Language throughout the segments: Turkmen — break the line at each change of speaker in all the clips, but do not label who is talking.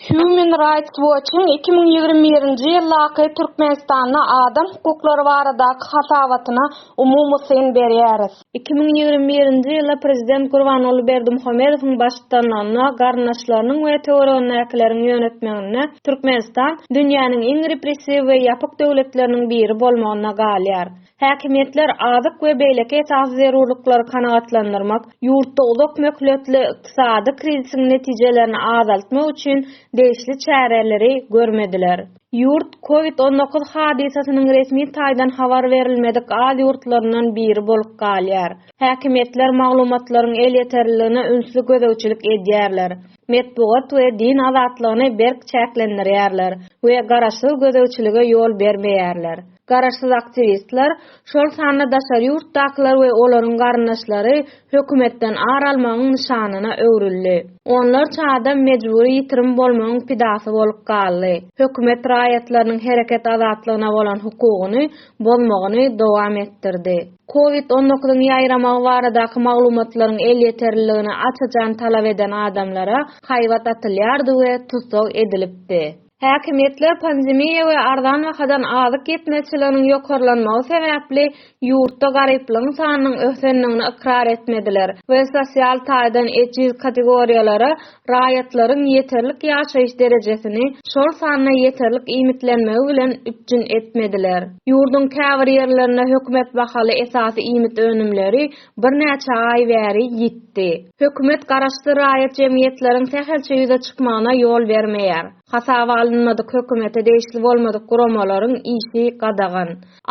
Human Rights Watch-yň iki müň ýigrimi birinji ýyldaky Türkmenistanda adam hukuklary baradaky hasabatyna umumy syn berýäris. Iki müň ýigrimi birinji ýylda prezident Gurbanguly Berdimuhamedowyň baştutanlygynda garyndaşlarynyň we töweregindäkileriň ýönetmeginde Türkmenistan dünýäniň iň repressiw we ýapyk döwletleriniň biri bolmagynda galýar. Häkimiýetler azyk we beýleki esasy zerurlyklary kanagatlandyrmak, ýurtda uzak möhletli ykdysady krizisiň netijelerini azaltmak üçin degişli çäreleri görmediler. Ýurt Covid on dokuz hadysasynyň resmi taýdan habar berilmedik az ýurtlaryndan biri bolup galýar. Häkimiýetler maglumatlaryň elýeterliligine ünsli gözegçilik edýärler, metbugat we din azatlygyny berk çäklendirýärler we garaşsyz gözegçilige ýol bermeýärler. Garaşsyz aktiwistler, şol sanda daşary ýurtdakylar we olaryň garyndaşlary hökümetden ar almagyň nyşanyna öwrüldi. Onlarça adam mejbury ýitirim bolmagyň pidasy bolup galdy. Hökümet raýatlarynyň hereket azatlygyna bolan hukugyny bozmagyny dowam etdirdi. Covid on dokuzyň ýaýramagy baradaky maglumatlaryň elýeterliligini aç-açan talap eden adamlara haýbat atylýardy we tussag edilipdi. Häkimiýetler pandemiýa we arzan bahadan azyk ýetmezçiliginiň ýokarlanmagy sebäpli ýurtda garyplygyň sanynyň ösendigini ykrar etmediler we sosial taýdan ejiz kategoriýalara raýatlaryň ýeterlik ýaşaýyş derejesini, şol sanda ýeterlik iýmitlenmegi bilen üpjün etmediler. Ýurduň käbir ýerlerinde hökümet bahaly esasy iýmit önümleri birnäçe aý bäri ýitdi. Hökümet garaşsyz raýat jemgyýetleriň sähelçe ýüze çykmagyna ýol bermeýär. Hasaba alynmadyk hökümete degişli bolmadyk guramalaryň işi gadagan.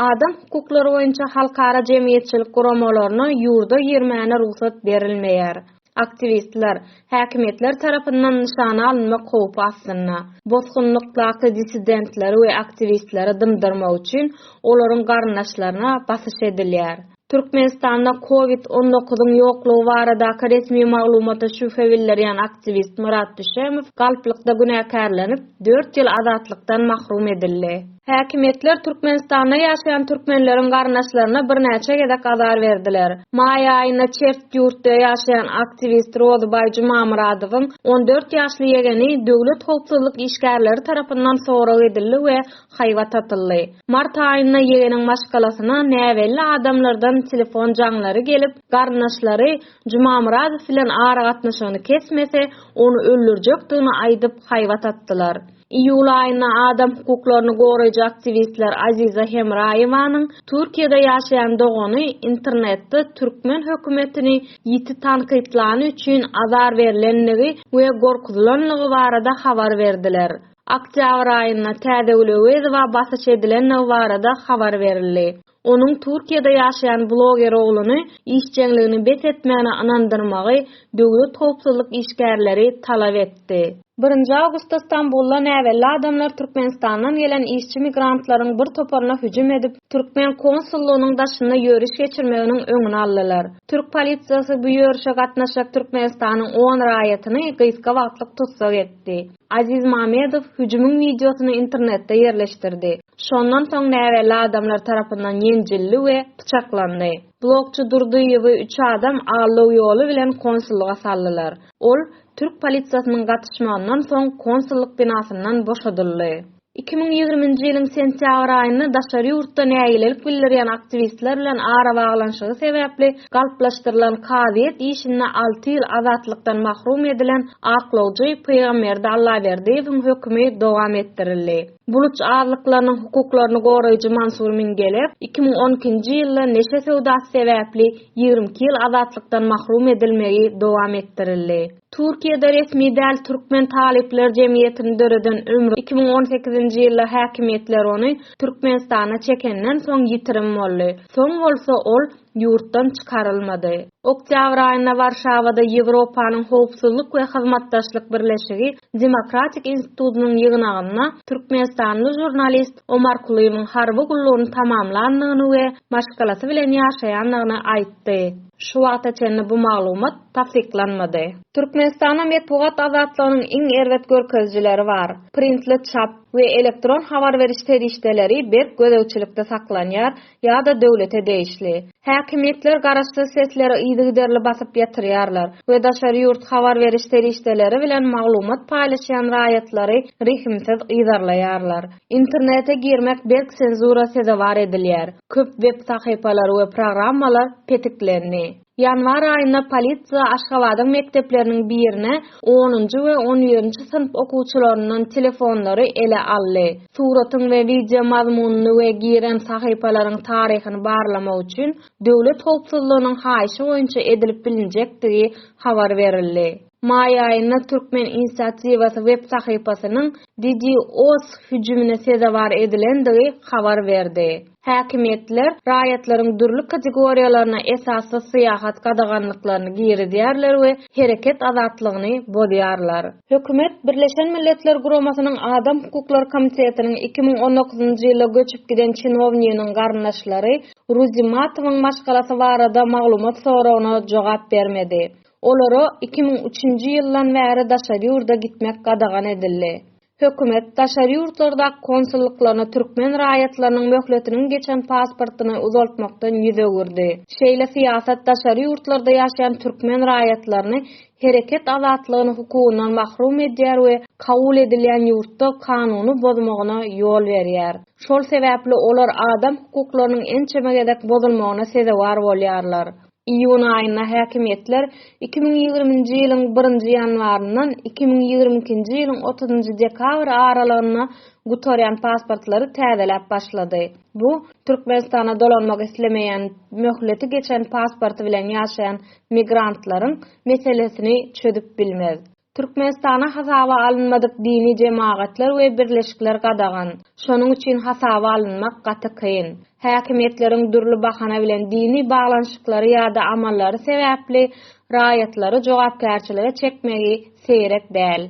Adam hukuklary boýunça halkara jemgyýetçilik guramalaryna ýurda girmäne rugsat berilmeýär. Aktiwistler, häkimiýetler tarapyndan nyşana alynmak howpy astynda. Bosgunlykdaky dissidentleri we aktiwistleri dymdyrmak üçin olaryň garyndaşlaryna basyş edilýär. Türkmenistanda covid on dokuzyň ýoklugy baradaky resmi maglumata şübhe bildirýän aktiwist Myrat Düşemow galplykda günäkärlenip, dört ýyl azatlykdan mahrum edildi. Häkimiýetler Türkmenistanda ýaşaýan türkmenleriň garyndaşlaryna birnäçe gezek azar berdiler. Maý aýynda çert ýurtda ýaşaýan aktiwist Rozybaý Jumamyradowyň on dört ýaşly ýegeni döwlet howpsuzlyk işgärleri tarapyndan sorag edildi we haýbat atyldy. Mart aýynda ýegeniň maşgalasyna näbelli adamlardan telefon jaňlary gelip, garyndaşlary Jumamyradow bilen aragatnaşygyny kesmese, ony öldürjekdigini aýdyp haýbat atdylar. Iýul aýynda adam hukuklaryny goraýjy aktiwistler Aziza Hemraýewanyň Türkiýede ýaşaýan dogany internetde türkmen hökümetini ýiti tankytlany üçin azar berlendigi we gorkuzylanlygy barada habar berdiler. Oktýabr aýynda Täzegül Öwezowa basyş edilendigi barada habar berildi. Onuň Türkiýede ýaşaýan bloger ogluny işjeňligini bes etmäne ynandyrmagy döwlet howpsuzlyk işgärleri talap etdi. Birinji awgustda Stambulda näbelli adamlar Türkmenistandan gelen işçi migrantlaryň bir toparyna hüjüm edip, türkmen konsullygynyň daşynda ýöriş geçirmeginiň öňüni aldylar. Türk polisiýasy bu ýörişe gatnaşjak Türkmenistanyň on raýatyny gysga wagtlyk tussag etdi. Aziz Mamedow hüjümiň wideosyny internetde ýerleşdirdi. Şondan soň näbelli adamlar tarapyndan ýenjildi we pyçaklandy. Blogçy Durdyýewi üç adam allow ýoly bilen konsullyga saldylar. Ol, türk polisiýasynyň gatyşmagyndan soň konsullyk binasyndan boşadyldy. Iki müň ýigriminji ýylyň sentýabr aýynda daşary ýurtda nägilelik bildirýän aktiwistler bilen arabaglanyşygy sebäpli galplaşdyrylan kazyýet işinde alty ýyl azatlykdan mahrum edilen aklawjy Pygamberdi Allaberdiýewiň hökümi dowam etdirildi. Buluç azlyklarynyň hukuklaryny goraýjy Mansur Mingelew iki müň on ikinji ýylda neşe söwdasy sebäpli ýigrimi iki ýyl azatlykdan mahrum edilmegi dowam etdirildi. Türkiýede resmi däl Türkmen talyplar jemgyýetini döreden ömri iki müň on sekizinji ýylda häkimiýetler ony Türkmenistana çekenden soň ýitirim boldy. Soň bolsa ol ýurtdan çykarylmady. Oktýabr aýynda Warşawada Ýewropanyň Howpsuzlyk we Hyzmatdaşlyk Birleşigi Demokratik institutynyň ýygnagynda türkmenistanly žurnalist Omar Kulymyň harby gullugyny tamamlandygyny we maşgalasy bilen ýaşaýandygyny aýtdy. Şu wagta çenli bu maglumat tassyklanmady. Türkmenistanda metbugat azatlygynyň iň erbet görkezijileri bar. Printli çap we elektron habar beriş serişdeleri berk gözegçilikde saklanýar ýa-da döwlete degişli. Häkimiýetler garaşsyz sesleri yzygiderli basyp ýatyrýarlar we daşary ýurt habar beriş serişdeleri bilen maglumat paýlaşýan raýatlary rehimsiz yzarlaýarlar. Internete girmek berk senzura sezewar edilýär. Köp web sahypalary we programmalar petiklendi. Ýanwar aýynda polisiýa Aşgabadyň mekdepleriniň birine onunjy we on birinji synp okuwçylaryndan telefonlary ele aldy. Suratyň we wideo mazmunyny we giren sahypalaryň taryhyny barlamak üçin Döwlet howpsuzlygynyň haýyşy boýunça edilip bilinjekdigi habar berildi. Maý aýynda Türkmen inisiatiwasy web sahypasynyň DDoS hüjümine sezewar edilendigi habar berdi. Häkimiýetler raýatlaryň dürli kategoriýalaryna esassyz syýahat gadaganlyklaryny girizýärler we hereket azatlygyny bozýarlar. Hökümet Birleşen Milletler Guramasynyň Adam hukuklary komitetiniň iki müň on dokuzynjy ýylda göçüp giden çinownygynyň garyndaşlary Ruzi Matowyň maşgalasy barada maglumat soragyna jogap bermedi. Olara iki müň üçünji ýyldan bäri daşary ýurda gitmek gadagan edildi. Hökümet, daşary ýurtlardaky konsullyklaryna türkmen raýatlarynyň möhletiniň geçen pasportyny uzaltmakdan ýüz öwürdi. Şeýle syýasat daşary ýurtlarda ýaşaýan türkmen raýatlaryny hereket azatlygyny hukugyndan mahrum edýär we kabul edilýän ýurtda kanuny bozmagyna ýol berýär. Şol sebäpli olar adam hukuklarynyň ençeme gezek bozulmagyna sezewar bolýarlar. Iýun aýynda häkimiýetler iki müň ýigriminji ýylyň birinji ýanwaryndan iki müň ýigrimi ikinji ýylyň otuzynyjy dekabry aralygynda gutarýan pasportlary täzeläp başlady. Bu, Türkmenistana dolanmak islemeýän möhleti geçen pasporty bilen ýaşaýan migrantlaryň meselesini çözüp bilmez. Türkmenistana hasaba alynmadyk dini jemagatlar we birleşikler gadagan. Şonuň üçin hasaba alynmak gaty kyn. Häkimiýetleriň dürli bahana bilen dini baglanyşyklary ýa-da amallary sebäpli raýatlary jogapkärçilige çekmegi seýrek däl.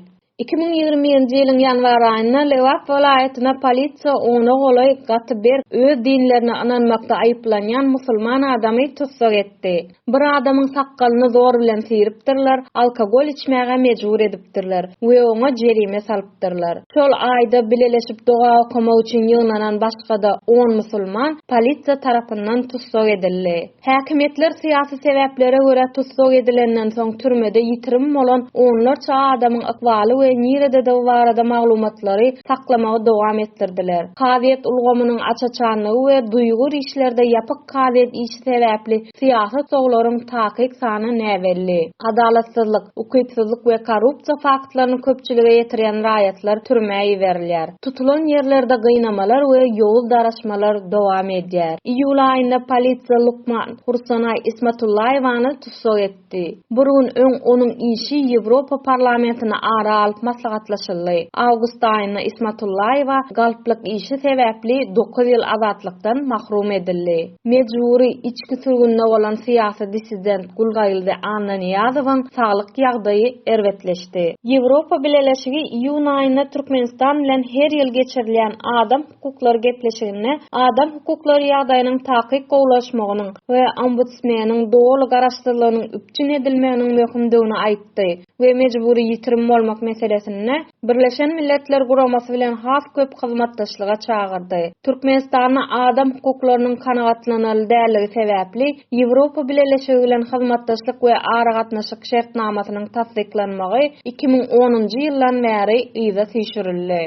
Iki müň ýigrimi birinji ýylyň ýanwar aýynda Lebap welaýatyna polisiýa ona golaý gaty berk öz dinlerine ynanmakda aýyplanýan musulman adamy tussag etdi. Bir adamyň sakgalyny zor bilen syrypdyrlar, alkogol içmäge mejbur edipdirler we oňa jerime salypdyrlar. Şol aýda bileleşip doga okamak üçin ýygnanan başga-da on musulman polisiýa tarapyndan tussag edildi. Häkimiýetler syýasy sebäplere görä tussag edilenden soň türmede ýitirim bolan onlarça adamyň ykbaly we nirededigi barada maglumatlary saklamagy dowam etdirdiler. Kazyýet ulgamynyň aç-açanlygy we duýgur işlerde ýapyk Kazyýet işi sebäpli syýasy toglaryň takyk sany näbelli. Adalatsyzlyk, ukypsyzlyk we korrupsiýa faktlaryny köpçülige ýetirýän raýatlar türmä iberilýär. Tutulan ýerlerde gynamalar we ýowuz daraşmalar dowam edýär. Iýul aýynda polisiýa lukman Hursanaý Ismatullaýewany tussag etdi. etdi. Bir gün öň onuň işi Ýewropa Parlamentini ara alyp maslahatlaşyldy. Awgust aýynda Ismatullaýewa galplyk işi sebäpli dokuz ýyl azatlykdan mahrum edildi. Mejbury içki sürgünde bolan syýasy dissident Gulgaýyldy Annanyýazowyň saglyk ýagdaýy erbetleşdi. Ýewropa Bileleşigi iýun aýynda Türkmenistan bilen her ýyl geçirilýän Adam hukuklary gepleşiginde adam hukuklary ýagdaýynyň takyk gowulaşmagynyň we ombudsmeniň doly garaşsyzlygynyň üpjün edilmeginiň möhümdigini aýtdy we mejbury ýitirim bolmak meselesinde Birleşen Milletler Guramasy bilen has köp hyzmatdaşlyga çagyrdy. Türkmenistanda adam hukuklarynyň kanagatlanarly däldigi sebäpli Ýewropa Bileleşigi bilen hyzmatdaşlyk we aragatnaşyk şertnamasynyň tassyklanmagy iki müň onunjy ýyldan bäri yza süýşürildi.